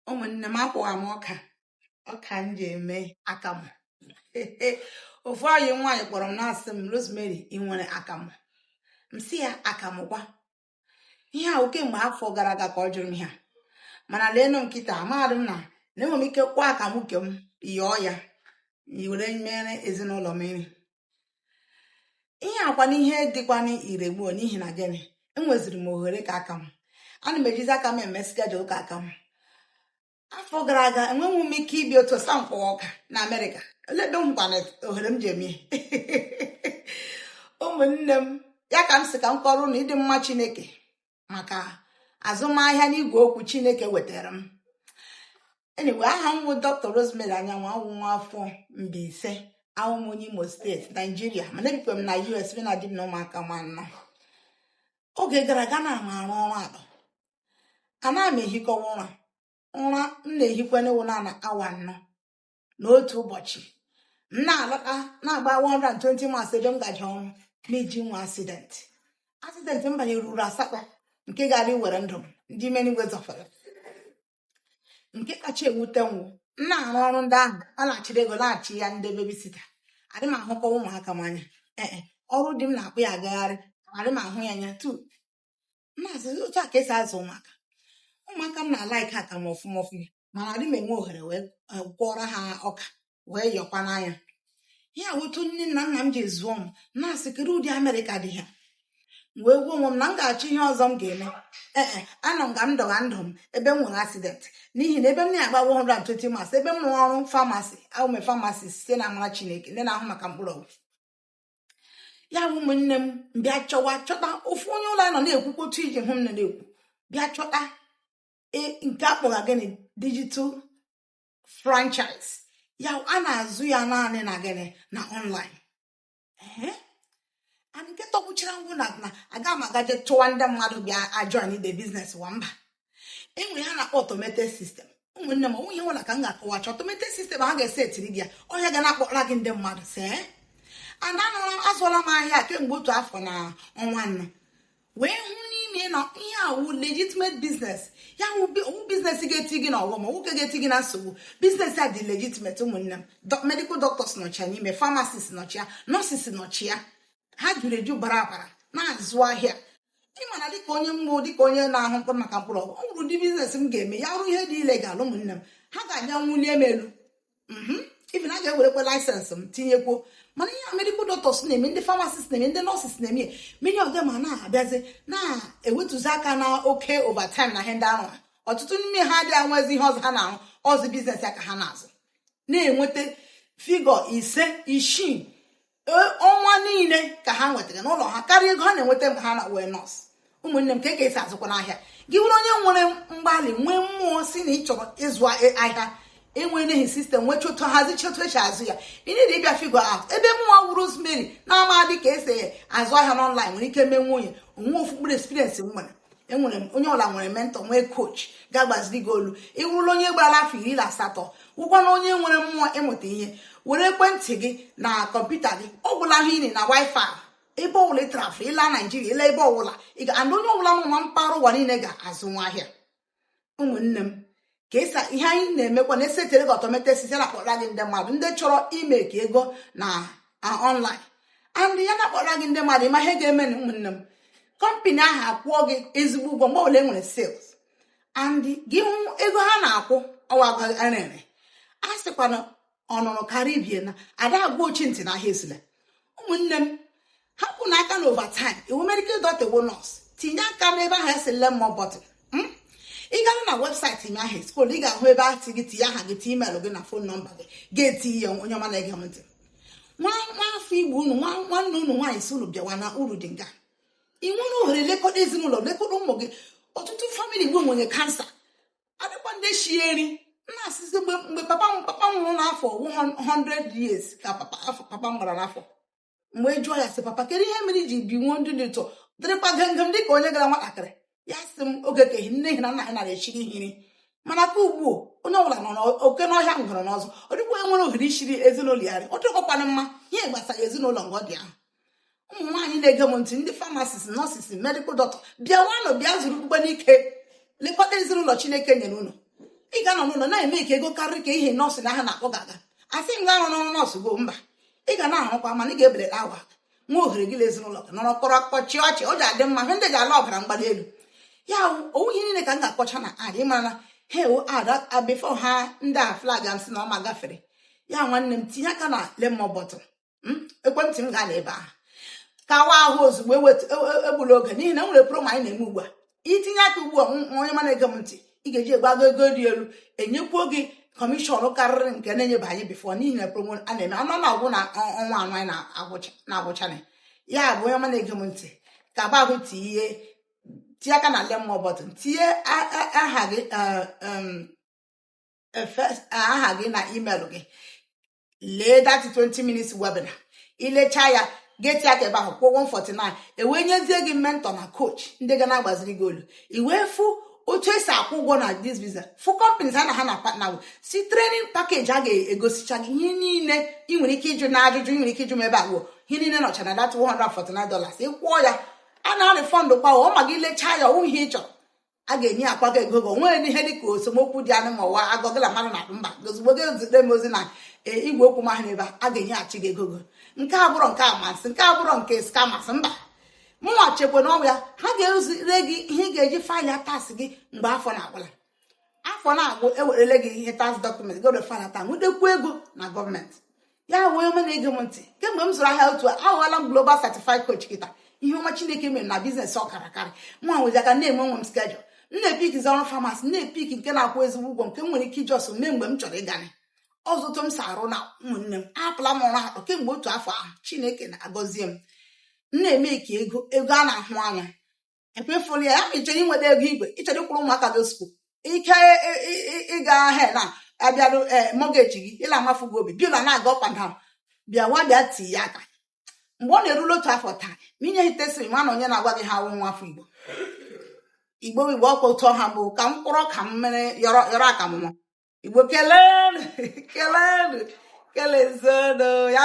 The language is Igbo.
ụmụ nne m akwọgha m ọka ọka m ji eme akamụ ofu enyi m nwaanyị kpọrọ m na-asị m rosemary ị nwere akamụ m sị ya akamụ kwa ihe a wụ kemgbe afọ gara aga ka ọ jụrụ m ihe a mana leenụ m kịta amadị m na na enwere m ike kwọọ akamụ nke m yọọ ya were mere ezinụlọ m nri ihe a kwa na ihe dịkwanụ ire gbuo n'ihi na gịnị enweziri m ohere nke aka m ana m ejizi aka m eme schedule nke aka m afọ gara aga enweghị m ike ibi otu ọsa mkpọ ọka na amerịka olee ebe m hụkwanụ ohere m ji eme ụmụnne m ya ka m sị ka m kọọrọ unu ịdị mma chineke maka azụmahịa n'igwe okwu chineke weteere m anyway aha m wụ dr rosemary anyanwụ awụ m nwa afọ Mbaise awụ m onye imo steeti naijiria mana ebikwe m na us mụ na di m na ụmụaka m anọ oge gara aga ana m arụ ọrụ atọ ana m ehikọwa ụra ụra m na-ehikwanụ wụ naanị awa anọ n'otu ụbọchị m na-alọta na-agba 120 miles ebe m gaje ọrụ m eji nwee accident accident m banyere ruru asatọ nke gaara iwere ndụ m ndị m n'igwe zọfere nke kacha ewute m wụ m na-arụ ọrụ ndị ahụ ana m achịrị ego na-achịnye ndị babysitter adị m ahụkọ ụmụaka m anya ee ọrụ di m na-akpụ ya agagharị adị m ahụ ya anya tu na-asị otu a ka e si azụ ụmụaka ụmụaka m na-alaiki akamụ ọfụma ọfụma mana adị m enwe ohere wee eh, kwọọrọ ha ọka wee yọkwanụ nye ha otu nne na nna m ji zụọ m na-asị kedu ụdị amerịka dị ihe a wee gwa onwe m na m ga-achọ ihe ọzọ m ga-eme ee eh, eh, anọ m ka m dọga ndụ m ebe m nwere accident n'ihi na ebe m na-agba 120 miles ebe m rụrụ ọrụ pharmacy awụ m pharmacist site na amara chineke ndị na-ahụ maka mkpụrụ ọgwụ ya wụ ụmụnne m m bịa chọwa chọta ofu onye ụlọ anyị nọ na-ekwukwa otu i ji hụ m na na-ekwu bịa chọta e, nke a kpọga gịnị digital franchise ya a na-azụ ya naanị na gịnị na online and nke tọgbuchara m wụ na na aga m agaje chụwa ndị mmadụ bịa ajoin the business wa mba e nwere ihe a na-akpọ automated system ụmụnne m nwunye nwere ka m ga-akọwacha automated system a ga-esetiri gị ya ọ ya ga na-akpọrọ gị ndị mmadụ see ana anụla azụọla m ahịa a kemgbe otu afọ na ọnwa anọ wee hụ n'ime na ihe a wụ legitimate business ya wụ business ga-eti gị na ọghọm ma ọ wụ nke ga-eti gị na nsogbu business a dị legitimate ụmụnne m medical doctors nọcha ya n'ime pharmacists nọcha ya nurses nọcha ya ha juru eju bara abara na-azụ ahịa ịma na dịka onye m bụ dịka onye na-ahụ mkpụrụ maka mkpụrụ ọgwụ ọ bụrụ ụdị business m ga-eme ya wụrụ ihe dị illegal ụmụnne m ha ga-abịa bulie m elu mhm. even a ga-ewerekwa license m tinyekwuo mana ihe medical doctors na-eme ndị pharmacists na-eme ndị nurses na-eme many of them na-abịazi na-ewetuzi aka na oke overtime na ihe ndị ahụ ọtụtụ n'ime ha adị enwezi ihe ọzọ ha na-arụ ọ sọ business ya ka ha na-azụ na-enweta figure ise isii e, ọnwa niile ka ha nwetara n'ụlọ ha karịa ego ha na-enweta mgbe ha na wee nọọsụ ụmụnne m kee ka esi azụkwanụ ahịa gị wụrụ onye nwere mgbalị nwee mmụọ sị na ị chọrọ ịzụ e, ahịa enwenehi system nwee chọtụ hazicha otu esi azụ ya ị need ịbịa figure out ebe mụnwa wụ rosemary na-amadị ka esi azụ ahịa n'online nwere ike meenwu ya onwe ofu mkpụrụ experience m nwere enwere m onye ọwụla nwere mentor nwee coach ga-agbaziri gị olu ị wụrụla onye gbarala afọ iri na asatọ wụkwa na onye nwere mmụọ ịmụta ihe were ekwentị gị na kọmputa gị ọ gwụla ihe ị need na wifi ebe ọbụla ị travel ịla naijiria ịla ebe ọbụla and onye ọbụla nọ na mpaghara ụwa niile ga-azụnwu ahịa ụmụnne m kezi ihe anyị na-emekwanụ e setere gị automated system ya na-akpọra gị ndị mmadụ ndị chọrọ imake ego na online and ya na-akpọra gị ndị mmadụ ịma ihe ga-emenụ ụmụnne m kọmpani ahụ akwụọ gị ezigbo ụgwọ mgbe ọwụla e nwere sales and gị hụ ego ha na-akwụ ọwa rere a sịkwa na ọ nụrụ kara ibe ya na ada agwa ochi ntị na ahịa esula ụmụnne m hapụnụ aka na overtime ị wụ medical dọkịta wụ nọọsụ tinye aka n'ebe ahụ e sị learn more button ị gara na website m ahụ scroll ị ga-ahụ ebe a sị gị tinye aha gị tinye email gị na phone number gị ga-eti ya onye ọma na-ege m ntị nwa nwa afọ igbo unu nwa nwanne unu nwaanyị sị unu bịawa na uru dị nga ị nwere ohere lekọta ezinụlọ lekọta ụmụ gị ọtụtụ family igbo nwere cancer adịkwa ndị shie nri na-asịzi mgbe mgbe papa m papa m nwụrụ n'afọ 100 years ka papa afọ papa m gbara n'afọ m bịa jụọ ya sị papa kedu ihe mere i ji binwuo ndụ dị otu a dịrịkwa gam gam dị ka onye ka wụ nwatakịrị ya sị m oge ke ehi nne na nna ha nara eshiri ha nri mana ke ugbu a onye ọbụla nọ n'oke n'ọhịa ngwere n'ụzọ ọ dịkwa nwere ohere ishiri ezinụlọ ya ọ dịkọkwana mma ihe gbasara ezinụlọ nga ọ dị ahụ ụmụ nwaanyị na-ege m ntị ndị pharmacists nurses medical dọkịta bịawanụ bịa zurukwanụ ike lekọta ezinụlọ chineke nyere unu ị ga-anọ n'ụlọ na-emake ego karịrị ka ihe nọọsụ na ha na-akwụ gị aga asị m gị arụna ọrụ nọọsụ gị oo mba ị ga na-arụkwa mana ị ga-ebelata awa nwee ohere gị na ezinụlọ gị nọrọ kọrọ akụkọ chịa ọchị ọ ga-adị mma hụ ndị ga-ala ọbara mgbali elu ya ọ wụhị ihe niile ka m ga-akọcha na ad ịmara na ha ewu ad before ha ndị a flag a sị na ọma gafere ya nwanne m tinye aka na learn more button hmm? ekwentị m gaa n'ebe ahụ kawa ahụ ozugbo e egbula e, e oge n'ihi na e nwere promo anyị na-eme ugbu a i tinye aka ugbu a onye ọma na-ege m ntị ị ga-eji egbago ego dị elu enyekwuo gị kọmishọn karịrị nke a na-enyebu anyị before n'ihi na promo a na-eme ọ na-agwụ na ọnwa anọ anyị na-agwụchana ya bụ onye ọma na-ege m ntị ka babụ tinye tinye aka na lemon button tinye aha gị e, aha gị na email gị lee that 20 minutes webinar i lechaa ya gị tii aka ebe ahụ kwụọ 149 e wee nyezie gị mentor na coach ndị ga na-agbaziri gị ọlụ i wee fụ otu esi akwụ ụgwọ na this visa fụ companies anyị na ha na-partner see training package a ga-egosicha gị ihe niile ị nwere ike ịjụ na ajụjụ ị nwere ike ịjụ m ebe ahụ ihe niile nọcha na that 149 dollars ị kwụọ ya a na-arịfọndụkwa ọ ma gị lechaa ya ọ wụghị ihe ị chọrọ a ga-enyekwa gị ego gị o nweghị ihe dị ka esemokwu dị na ya ma ọ wụ ọgụ gị na mmadụ na mba ozugbo gị zite m ozi na e, igwe okwu m ahụ ebe a ga-enyeghachi gị ego gị nke a abụrọ nke amasị nke a abụrọ nke scammers mba mụnwa chekwa na ọbịa ha ga-ezire gị ihe ị ga-eji faịlịa tax gị mgbe afọ na-agwụla afọ na-agwụ ewerele gị ihe tax document gị were faịlịa tax nwetakwuo ego na gọọmenti ya wụ onye ọma na-ege m ntị kemgbe m zụrụ ahịa otu a aghọọla m global certified coach kịta ihe ọma chineke mere na biznes ọ kara karị nwa nwezi aka na-eme onwe m schedule m na-epikzi ọrụ famasi na-epik nke na-akwụ ezigbo ụgwọ nke m nwere ike iji ọsọ mee mgbe m chọrọ ịganye ọzụtụ m si arụ na ụmụnne m apụla m ọrụ atọ kemgbe otu afọ ahụ chineke na-agọzie m na-eme ka ego ego a na-ahụ anya ekwefuru ya ya ma ị chọrọ inweta ego igwe ị chọrọ ịkwụrụ ụmụaka gị sukuul ike ịga ahịa na abịarụ ee mortgage gị ịla amafu gị obi bịa na-aga ọkwa na bịa nwa bịa tii ya aka mgbe ọ na-erule otu afọ taa ma i nye testimony onye na-agwa gị ihe a wụ nwa afọ igbo igbo igbo ọkwa otu ọha bụ ka m kwụrụ ka m mere yọrọ yọrọ ka ụmụ igbo kelee kelee kelezuonụ ya